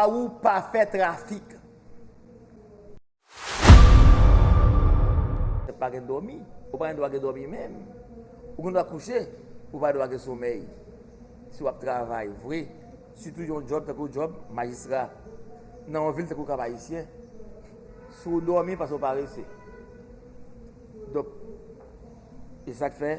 a ou pa fè trafik. Tèt pa gen dòmi, ou pa gen dwa gen dòmi menm. Ou gen dwa kouche, ou pa dwa gen somèy. Si wap travay vre, sitou yon djòb tankou djòb majistra nan yon vil tankou Kap Ayisyen, si w dòmi pase w parese. Donk, e sak fè.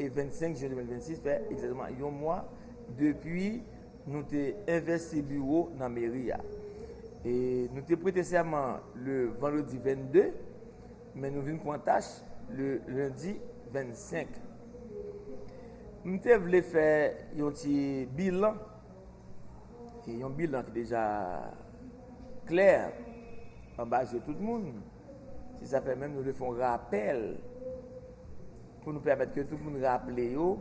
E 25 jen 2026 fè egzatteman yon mwa depi nou te envesti biwo nan meri a. E nou te prete sèman le vandredi 22, men nou vin pran tach le lendi 25. M te vle fè yon ti bilan, e yon bilan ki deja klè anba je tout moun, se sa fè menm nou vle fè yon rapèl. Pou nou pèmèt ke tout moun raple yo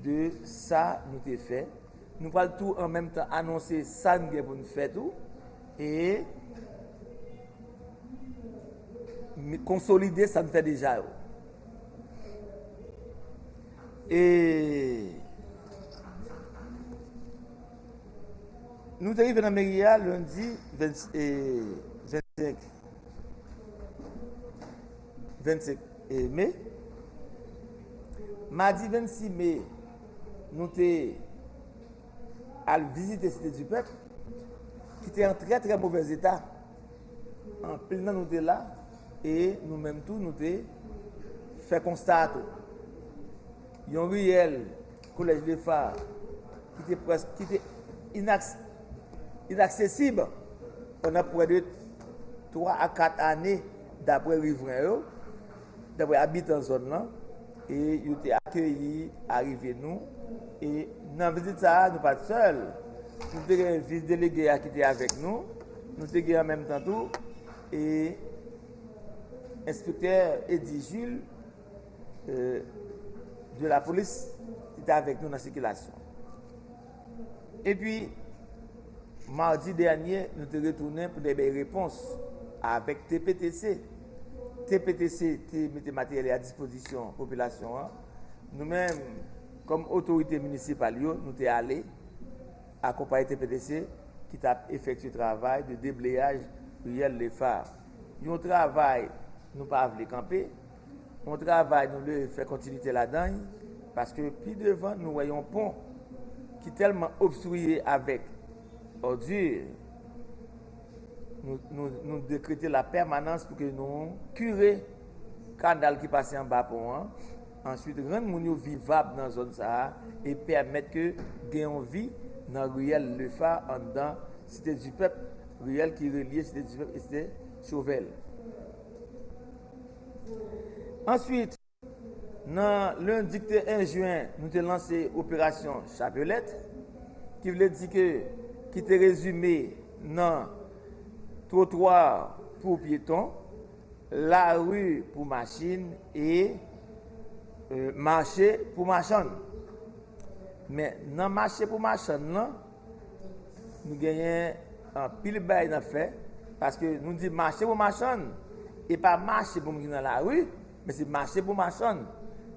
de sa nou te fè. Nou pral tou an menm tan anonse sa n gen pou n fè tou e konsolide sa n fè deja yo. E nou te rive nan meri a lendi 25. 25 me, madi 26 me, nou te al vizite Site di Pèp, ki te an trè trè movèz eta. An pil nan nou te la, e nou menm tou nou te fè konsta a tou. Yon riyèl. Collège de Phare ki te preske, ki te inaksesib pandan prè de 3 a 4 ane dapre rivren yo, dapre abitan zòn lan, e yo te akeyi arive nou, e nan vizit sa a nou pa t sèl, nou te gen vis delege a ki te avèk nou, nou te gen an menm tan tou, e enspektè Eddy Jules. de la polis ki te avèk nou nan sikilasyon. E pi, mardi dènyè, nou te retounen pou te bay repons avèk TPTC. TPTC te mete materyèl a dispozisyon popilasyon an. Nou men, kom otorite minisipal yo, nou te ale akopaye TPTC ki ta efekti travay de debleyaj riyèl lefa. Yon travay nou pa avle kanpe. Yon travay nou dwe fè kontinite ladan l, paske pi devan nou wè yon pon ki tèlman obstriye avèk òdi, nou dekrete la pèmanans pou ke nou kire kanal ki pase anba pon an, answit rann moun yo vivab nan zòn sa a e pèmèt ke gen yon vi nan riyèl Le Phare anndan Site di Pèp, riyèl ki relye Site di Pèp e Site Chauvel. Answit, nan lendi ki te 1 jyen, nou te lanse operasyon Chapelèt, ki vle di ke, ki te rezime nan twotwa pou pyeton, lari pou machin e mache pou machann. Men, nan mache pou machann lan, Nou genyen anpil bay nan fè, paske nou di mache pou machann, e pa mache pou moun nan la ri, men se mache pou machann.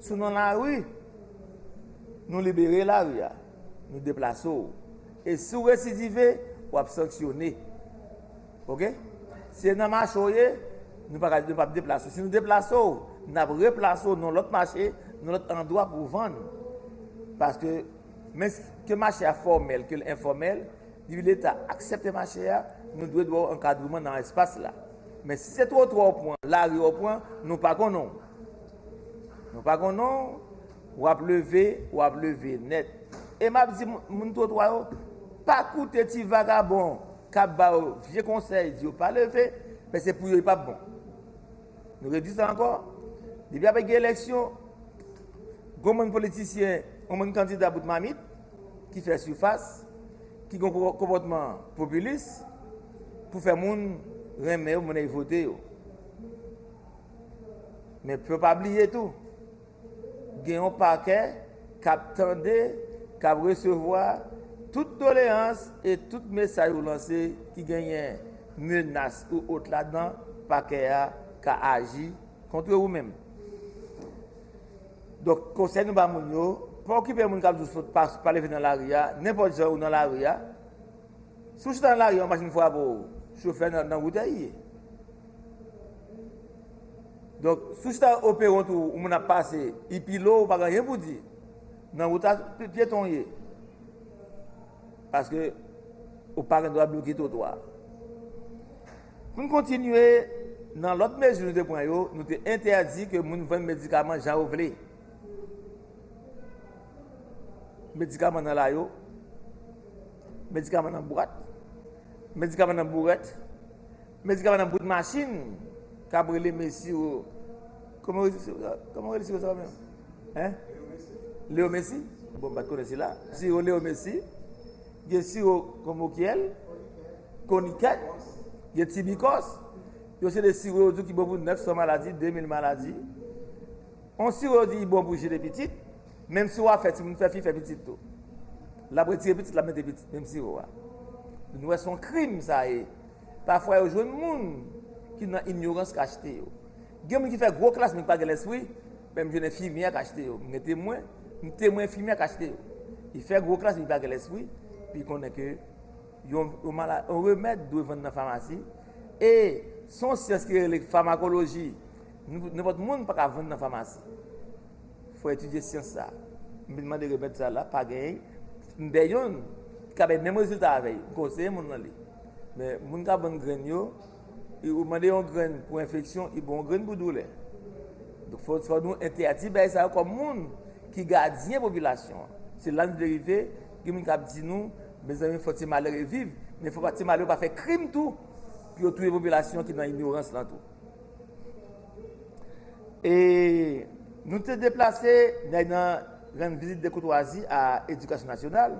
Sou nan la ri, nou libere la ri a, nou deplase ou. E si ou residive, ou ap sanksyone. Ok? Se nan mache ou ye, nou pa ap deplase ou. Si nou deplase ou, nou ap replase ou nan lòt mache, nan lòt andwa pou vann. Paske... Men, ke mache a fòmèl, ke l enfòmèl, depi Leta aksepte mache a, nou dwe dwe ankadreman nan espas la. Men si se twotwa ou pran, lari ou pran, nou pa konnen w. Nou pa konnen w, w ap leve, w ap leve nèt. E m ap di moun twotwa yo, pa koute ti vagabon k ap ba yo vye konsèy, di yo pa leve, men se pou yo li p ap bon. Nou redi sa ankò, depi apè gen eleksyon, gwo moun politisyen, gwo moun kandida bout mamit, ki fè soufas, ki gwo konpòtman popilis, pou fè moun renmen yo, moun e vote yo. Men pou yo pa bliye tou, gen yon pakè k ap tande, k ap resevwa tout doleyans e tout mesaj ou lanse ki genyen menas ou ot ladan, pakè a ka aji kontre ou menm. Donk, konsèy nou ba moun yo, pa okipe moun k ap di w sòt, pa leve nan lari a, nenpòt jan ou nan lari a, Si w chita nan lari yon machin frape w, chofè nan nan wout a ye. Donk, si w chita o peron tou yon moun ap pase, li pile w pa gen anyen pou w di. Nan wout la tout pyeton w ye. Paske ou pa gen dwa bloke twotwa a. Pou n kontinye, nan lòt mezi nou te pran yo, nou te entèdi ke moun vann medikaman jan yo vle. Medikaman nan layo, medikaman nan bwat, medikaman nan bourèt, medikaman nan bout machin kap rele mesi yo, kòman yo rele siro sa menm? Leo mesi, bon pat konnen sila, siro leo mesi, gen siro konmokyèl, konikèt, gen tibikòs, yo se de siro yo di ki bon pou 900 maladi, 2000 maladi. On siwo yo di li bon pou jene pitit, menm siwo a fè timoun fè fi fè pitit tou. Lap retire pitit lap mete pitit menm siwo a. Nou wè son krim sa ye. Pafwa yo jwenn moun ki nan inyorans k achte yo. Gen moun ki fè gwo klas men ki pa gen lèspri, menm jwenn enfimyè k achte yo. Mwen gen temwen, m temwen enfimyè k achte yo. Li fè gwo klas men li pa gen lèspri, li konnen ke yon remèd dwe vann nan famasi e son syans ki rele famakoloji. Nenpòt moun pa ka vann nan famasi. Fò etidye syans sa. M vin mande remèd sa la, pa genyen. M bè yonn ki ka bay menm rezilta avè l. M konseye moun lan li. Men moun k ap vann grenn yo, ou mande yon grenn pou enfeksyon, li ba w yon grenn pou doulè. Donk fò nou entèdi bagay sa yo kòm moun ki gadyen popilasyon an. Se la n verifye, gen moun k ap di nou, mezanmi fò ti malere viv, men fò ti malere pa fè krim tou pou yo touye popilasyon ki nan inyorans lan tou. E nou te deplase nèg nan rann vizit de koutwazi a Edikasyon Nasyonal.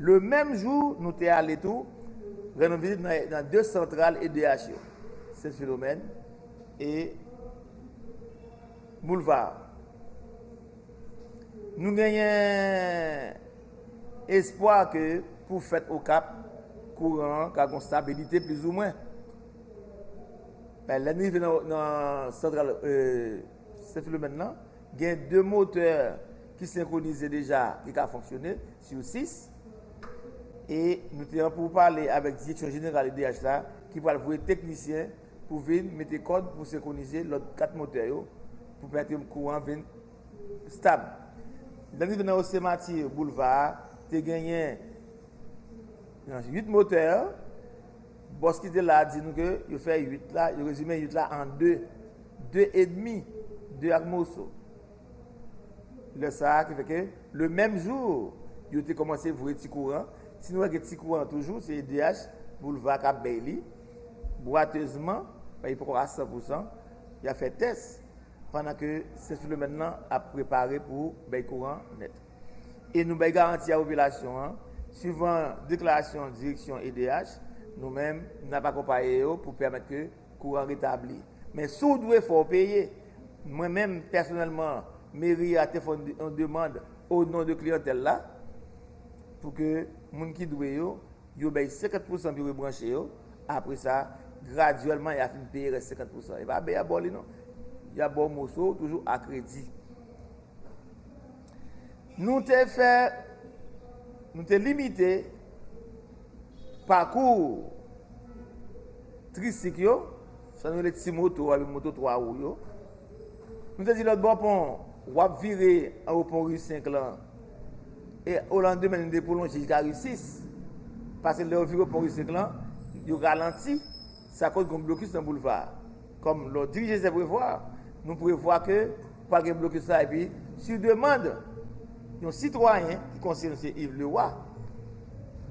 Le menm jou, nou te ale tou rann yon vizit nan 2 santral edh yo, Sen Filomèn e Boulvar. Nou genyen espwa ke pou fèt Okap, kouran an ka gon stabilite plizoumwen. Lè n rive nan santral Sen Filomèn nan, gen 2 motè ki senkwonize deja ki ka fonksyone sou 6. E nou te an pou pale avèk direksyon jeneral edh la ki pral voye teknisyen pou vin mete kòd pou senkwonize lòt 4 motè yo pou pèmèt yo kouran an vin stab. Lè n rive nan Ose Mati, Boulva a, te genyen 8 motè. Bòs ki te la a di nou ke yo fè 8 la, yo rezime 8 la an 2. 2 edmi, 2 ak moso. Lè sa a ki fè ke, le menm jou, yo te kòmanse voye ti kouran. Si nou wè gen ti kouran toujou, se edh, boulva k ap bay li. Bwatezman, men li poko a san pou san, y ap fè tès, pandan ke Sen Filomèn lan ap prepare pou bay kouran nèt. e nou bay garanti a popilasyon an, swivan deklarasyon direksyon edh, nou menm n ap akonpaye yo pou pèmèt ke kouran retabli. Men si w dwe fò w peye. Mwen menm pèsonèlman meri a te fè yon demand o non de kliyantèl la pou ke moun ki dwe yo, yo bay 50 pousan pou yo rebranche yo, apre sa gradyèlman y a fin peye rès 50 pousan. E pa bè y ap ba w li non, y ap ba w moso w toujou a kredi. Nou te fè, nou te limite pakou tristik yo, sa nou rele ti moto a, moto 3 wou yo. Nou te di lòt bò pon, wap vire an wou pon ri 5 lan, e o lan demen nou te pwolonje jika ri 6, pase lè yo vire pon ri 5 lan, yo ralanti. Sa koz gon blokis nan boulva a. Kòm lè w dirije se prevwa, nou prevwa ke pral gen blokis la epi su demand yon sitwayen ki konseye nou se Iv Lewa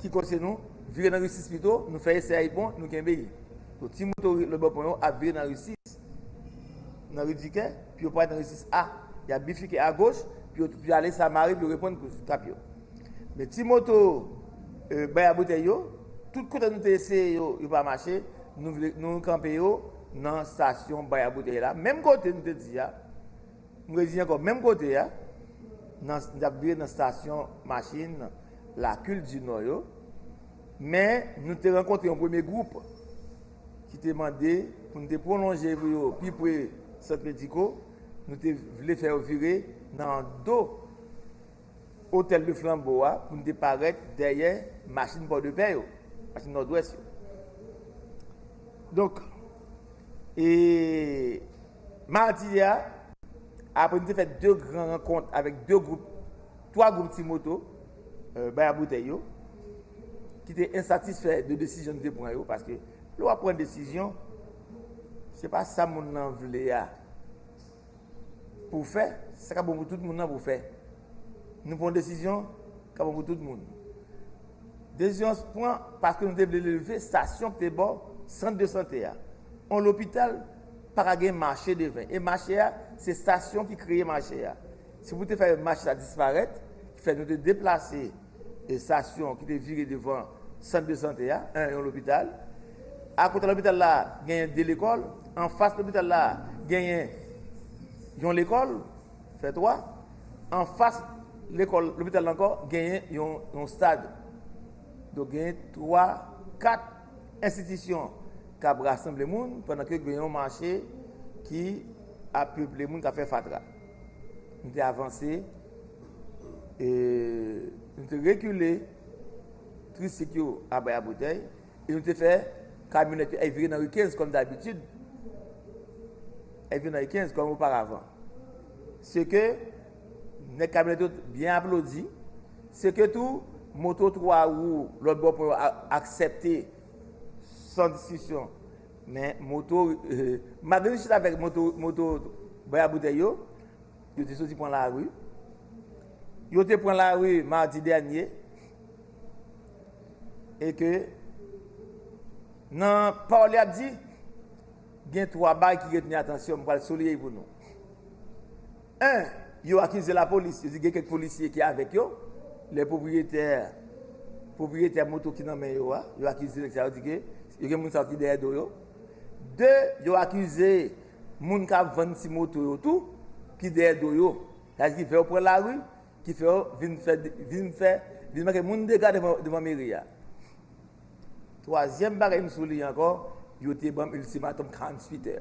ki konseye nou vire nan risis pito, nou fè esè a li bon, nou kenbe li. Donk ti moto lòtbò pon yo ap vire nan risis nan ri Dikè pi yo pral nan risis A. Yap bifike agoch pi yo ale Samari pi yo reprann kous kap yo. Men ti moto bay a boutèy yo, tout kote nou te eseye yo, yo pa mache, nou kanpe yo nan stasyon bay a boutèy la, menm kote nou te di a, m redi ankò, menm kote a, nan, n tap vire nan stasyon machin Lakil di Nò yo, men nou te rankontre yon premye gwoup ki te mande pou nou te pwolonje pou yo pi pre Sant Mediko, nou te vle fè yo vire nan do. Hotel de Flambeau a pou n te parèt dèyè machin Pòdepè yo, machin Nòdwès yo. Donk, e madi a, apre n te fè 2 gran rankont avèk 2 gwoup, 3 gwoup ti moto, bay a boutèy yo, ki te ensatisfè de desizyon n te pran yo, paske lè w ap pran desizyon, se pa sa moun nan vle a. pou w fè sa k ap bon pou tout moun nan pou w fè. Nou pran desizyon k ap bon pou tout moun. Desizyon an pran paske nou te vle leve stasyon k te bò sant de sante a. On lopital pa ka gen mache deven. E mache a, se stasyon ki kreye mache a. Se pou te fè mache sa disparèt ki fè nou te deplase. estasyon ki te vire devan sant de sante a, 1 yon lopital, akote lopital la genyen 2 lekòl, anfas lopital la genyen yon lekòl, fè 3, anfas lekòl lopital la ankò genyen yon stad. Donk genyen 3, 4 enstitisyon k ap rasanble moun pandan ke genyen yon mache ki ap peple moun k ap fè fatra. Nou te avanse, e nou te rekile trisik yo a bay a boutèy, e nou te fè kamyonèt yo, e vire nan ri 15 kòm dabitid, e vire nan ri 15 kòm oparavan. Se ke, nèk kamyonèt yo byen aplodi, se ke tou, moto 3 wou lòt bò pon yo aksepte, san diskisyon, Men moto, malgre li chita avèk moto, moto bay a boutèy yo, yo te soti pran lari. Yo te pran lari mardi dènye. E ke nan pawòl li ap di, gen 3 bagay ki reteni atansyon m pral souliye pou nou. 1, Yo akize lapolis, yo di gen kèk polisye ki avèk yo, lè pwopriyetè pwopriyetè moto ki nan men yo a, yo akize nèg sa yo di ke yo gen moun sa yo ki dèyè do yo. 2, Yo akize moun k ap vann ti moto yo tou ki dèyè do yo, sa di ki fè yo pran lari, ki fè yo vin fè vin fè vin manke moun dega devan devan meri a. Twazyèm bagay m souliye ankò, yo te ban m iltimatòm 48 è.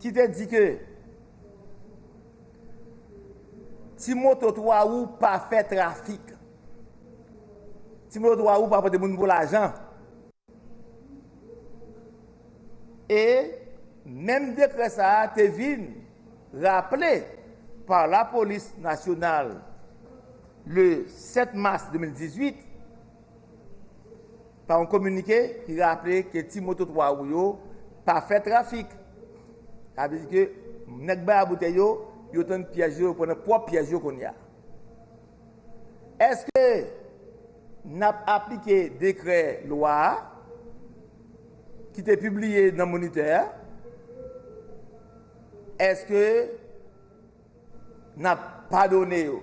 ki te di ke ti moto 3 wou pa fè trafik, ti moto 3 wou pa pote moun pou lajan, e menm dekrè sa a te vin raple pa lapolis nasyonal le 7 mas 2018. pa yon kominike ki raple ke ti moto 3 wou yo pa fè trafik. Sa vle di ke nèg bay a boutèy yo, yo tann pyèj yo, yo pran nan pwòp pyèj yo kounye a. Eske n ap aplike dekrè lwa a ki te pibliye nan Monitè a? Eske. N ap padone yo.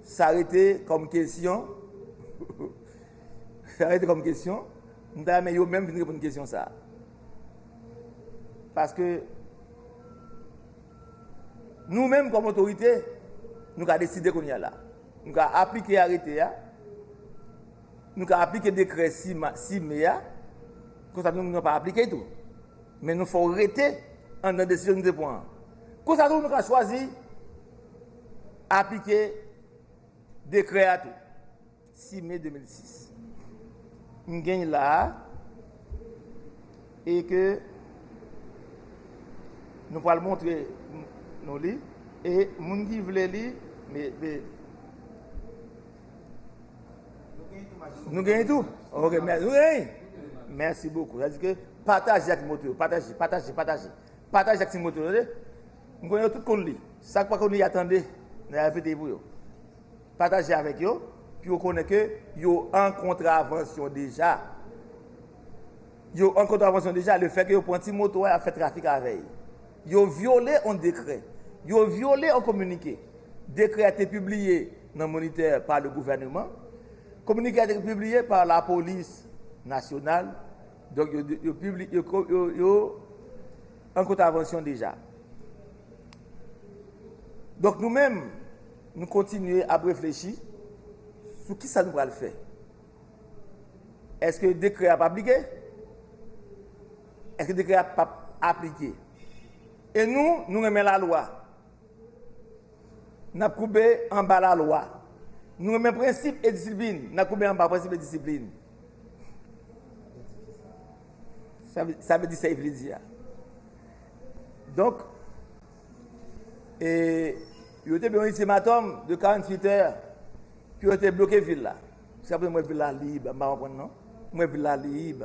Sa rete kòm kesyon, sa rete kòm kesyon, m ta renmen yo menm vin reponn kesyon sa. Paske nou menm kòm otorite, nou ka deside kounye a la. Nou ka aplike arete a, nou ka aplike dekrè si me a, konsa nou menm nou pa aplike tou. Men nou fè w rete anndan desizyon nou te pran an. Konsa tou nou ka chwazi aplike dekrè a tou. 6 me 2006. M gen la a e ke nou pral montre nou li e moun ki vle li, me, be. Nou genye tou? Ok, mèsi. Nou genye? Mèsi bokou. Zadi ke pataje ak moto yo. Pataje, pataje, pataje. Pataje ak ti moto yo, de. M konye yo tout kon li. Sak pa kon li atande, nan ya fete pou yo. Pataje avèk yo, pou yo konnen ke yo an kontravansyon deja. Yo an kontravansyon deja, le fè ke yo pran ti moto a, ya fè trafik avèy. Yo vyole on dekrè. Yo vyole on kominike. Dekrè a te pibliye nan Monitè pa le gouvèneman. Kominike a te pibliye pa lapolis nasyonal. Donk yo pibliye, yo an kontavansyon deja. Donk nou menm, nou kontinye ap reflechi sou ki sa nou pral fè. Eske dekrè a ap aplike? Eske dekrè a pap aplike? E nou, nou renmen lalwa. N ap koube anba lalwa. Nou renmen prensip e disiplin. N ap koube anba prensip e disiplin. Sa vle di sa Ivli di a. Donk, e yo te beyonise matom de 48 è ki yo te bloke vil la. Jiska prezan mwen vil la lib. Mwen vil la lib.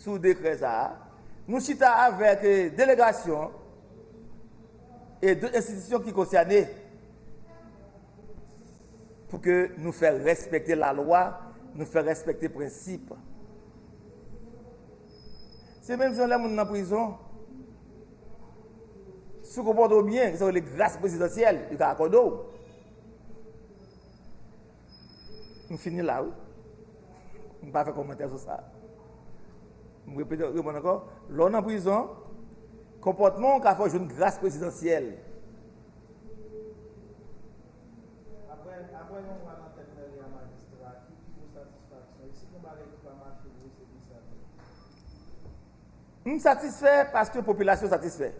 sou dekrè sa a, nou chita avèk delegasyon an e dot enstitisyon ki konsène pou ke nou fè rèspèkte lalwa, nou fè rèspèkte prensip. Se menm jan lè moun nan prizon, si w konpòte w byen, gen sa yo rele gras prezidansyèl, yo ka akòde w. Nou fini la wi. M pa fè komantè sou sa. M repete ou repon ankò. Lè w nan prizon, konpòtman w ka fè w jwenn gras prezidansyèl. Aprè yon mwa nan tèt mèri a majistra, ki pi gwo satisfaksyon? E si gen bagay ki pa mache vre, se ki sa tou? M satisfè paske popilasyon satisfè.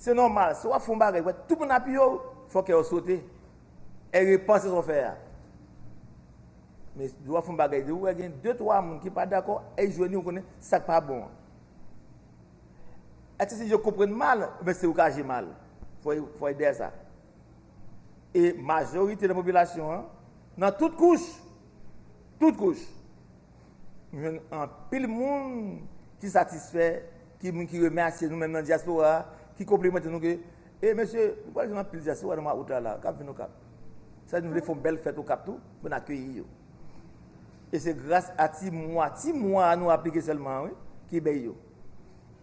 Se nòmal, si w ap fè yon bagay, wè tout moun apiye w, fò kè w sote. E repanse sa w fè a. Men lè w ap fè yon bagay, lè w wè gen de twa moun ki pa dakò, e jwenn yon konnen sa k pa bon an. Eske si yo konprann mal, oubyen se ou k aji mal? Fò ede a sa. E majorite nan popilasyon an, nan tout kouch, tout kouch, m jwenn anpil moun ki satisfè, ki moun ki remèsye nou menm nan dyaspora a, ki konplimante nou ke E mesye, nou pral jwenn anpil dyaspora nan mwa out la la, kap vin Okap. Sa vle di nou vle fè yon bèl fèt Okap tou, pou n akeyi yo. E se gras a ti mwa, ti mwa a nou aplike sèlman an wi, ki bay yo.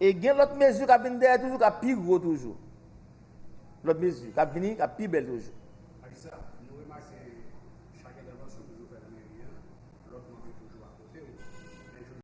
E gen lòt mezi kap vin dèyè toujou, kap pi gwo toujou. Lòt mezi, kap vini, kap pi bèl toujou. Marisa, nou remake chak entèvansyon ou toujou fè nan meri an, lòt manm yo toujou akote ou.